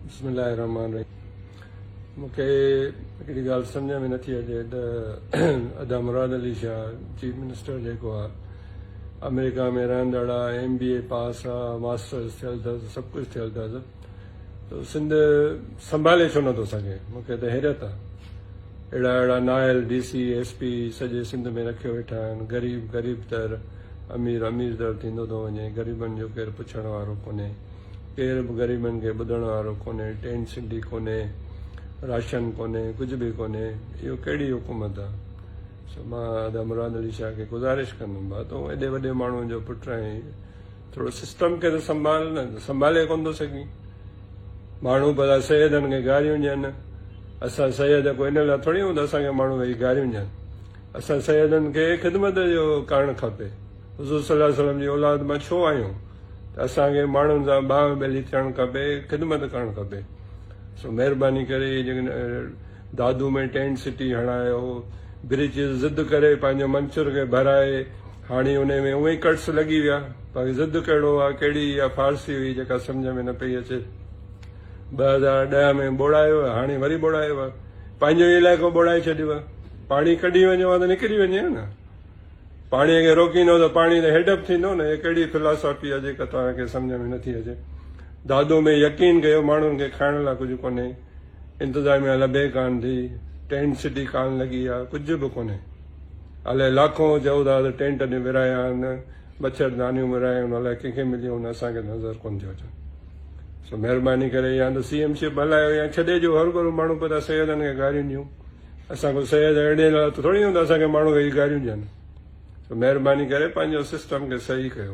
بسم الله الرحمن الرحيم مون کي هڪڙي ڳالهه سمجهه ۾ نٿي اچي ته ادا مراد علي شاهه چيف منسٽر جيڪو آهي آمريڪا ۾ رهندڙ آهي ايم بي اي پاس آهي ماسٽرس ٿيل اٿس سڀ ڪجهه ٿيل اٿس ته سنڌ سنڀالي ڇو نٿو سگهي مون کي ته حيرت آهي اهڙا اهڙا نائل ڊي سي ايس پي سڄي سنڌ ۾ رکيو ويٺا آهن غريب غريب تر امير امير تر ٿيندو ٿو وڃي غريبن جو ڪير پڇڻ وارو ڪونهي ڪير به غريبن کي ٻڌڻ وارو ڪونهي، ٽين سنڊي ڪونهي، راشن ڪونهي، ڪجهه به ڪونهي، اهو ڪهڙي حڪومت آ؟ سو مان ادا مراد علي شاهه کي گذارش ڪندم ڀا تون ايڏي وڏي ماڻهو جو پٽ آهين ٿورو سسٽم کي ته سنڀال نه سنڀالي ڪونه ٿو سگهين ماڻهو ڀلا سيدن کي گاريون ڏين اسان سيد ڪو ان لاء ٿوري هون ته اسان کي ماڻهو ويهي گاريون ڏين اسان سيدن کي خدمت جو ڪرڻ کپي حضور صلي الله عليه وسلم جي اولاد مان ڇو آهيون ته اسان کي ماڻهن سان باهه ٻيلي ٿيڻ کپي خدمت ڪرڻ کپي سو مهرباني ڪري جيڪڏهن دادو ۾ ٽينٽ سٽي هڻايو بريچز ضد ڪري پنهنجو منچر کي ڀرائي هاڻي ان ۾ اوهين ڪٽس لڳي ويا باقي ضد ڪهڙو آ ڪهڙي اها فارسي هئي جيڪا سمجهه ۾ نه پئي اچي ٻه هزار ڏهه ۾ ٻوڙايو هاڻي وري ٻوڙايو پنهنجو علائقو ٻوڙائي ڇڏيو پاڻي ڪڍي وڃو ها ته نڪري وڃي ها نه پاڻي کي روڪيندو ته پاڻي ته هيڊپ ٿيندو نه هي ڪهڙي فلاسافي آهي جيڪا توهان کي سمجهه ۾ نٿي اچي دادو ۾ يقين ڪيو ماڻهن کي کائڻ لاء ڪجهه ڪونهي انتظاميا لڀي ڪانه ٿي ٽينٽ سٽي ڪانه لڳي آهي ڪجهه به ڪونهي الائي لاکون چئو ٿا ته ٽينٽ اڏي ورايا آهن مڇر دانيون ورايون الائي ڪنهن کي مليو نه اسان کي نظر ڪونه ٿيو اچن سو مهرباني ڪري يا ته سي ايم شپ هلايو يا ڇڏي جو هر ڪو ماڻهو پتا سيدن کي گاريون ڏيون اسان ڪو سيد اهڙي حالت ٿوري هوندو اسان کي ماڻهو ويهي گاريون ڏين سو مهرباني ڪري پنهنجو سسٽم کي صحيح ڪيو.